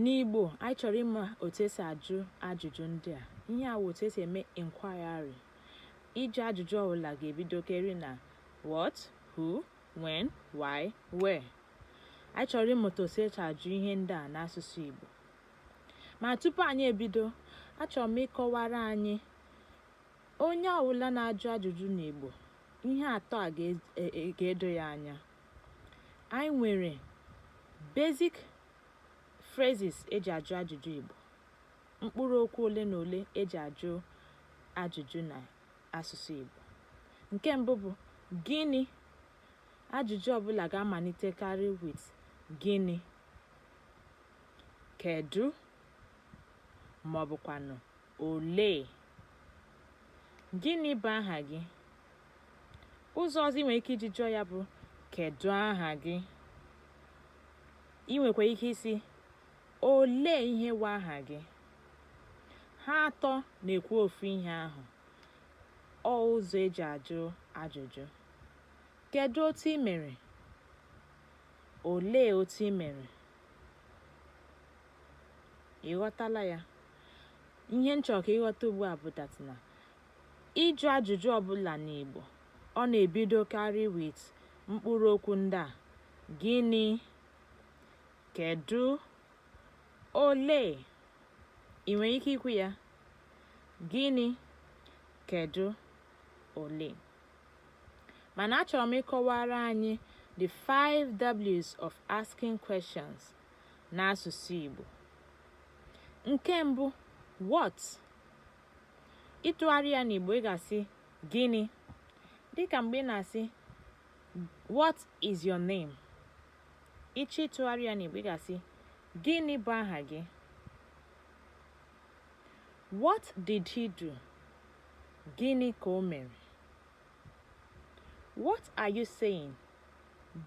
N'Igbo, anyị chọrọ ịma otu esi ajụ ajụjụ ndị a. Ihe a wụ otu esi eme inquiry. Ịjụ ajụjụ ọbụla ga-ebidokeri na what, who, when, why, where. Anyị chọrọ ịmụta otu esi ajụ ihe ndị a n'asụsụ Igbo. Ma tupu anyị ebido, achọrọ m ịkọwara anyị onye ọbụla na-ajụ ajụjụ n'Igbo ihe atọ a ga-edo ya anya anyị nwere basic phrases eji ajụ ajụjụ Igbo mkpụrụ okwu ole na ole eji ajụ ajụjụ na asụsụ Igbo nke mbụ bụ gịnị ajụjụ ọbụla ga-amalitekarị with gịnị kedu ma ọ bụkwanụ Olee? Gịnị bụ aha gị? Ụzọ ọzọ ị nwere ike iji jụọ ya bụ kedụ aha gị? Ị nwekwara ike ịsị olee ihe bụ aha gị? Ha atọ na-ekwu ofu ihe ahụ. Ọ ụzọ eji ajụ ajụjụ. Kedụ otu ị mere? Olee otu ị mere? Ị ghọtala ya? ihe m chọrọ ka ị ghọta ugbu a bụ that na ịjụ ajụjụ ọbụla n'Igbo ọ na-ebidokarị with mkpụrụ okwu ndị a gịnị kedu olee ị nwere ike ikwu ya gịnị kedu olee mana achọrọ m ịkọwara anyị the 5 W's of asking questions n'asụsụ Igbo nke mbụ what ịtụgharị ya n'Igbo ị ga-asị gịnị dịka mgbe ị na-asị what is your name ị chọọ ịtụgharị ya n'Igbo ị ga-asị gịnị bụ aha gị what did he do gịnị ka o mere what are you saying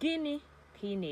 gịnị ka ị na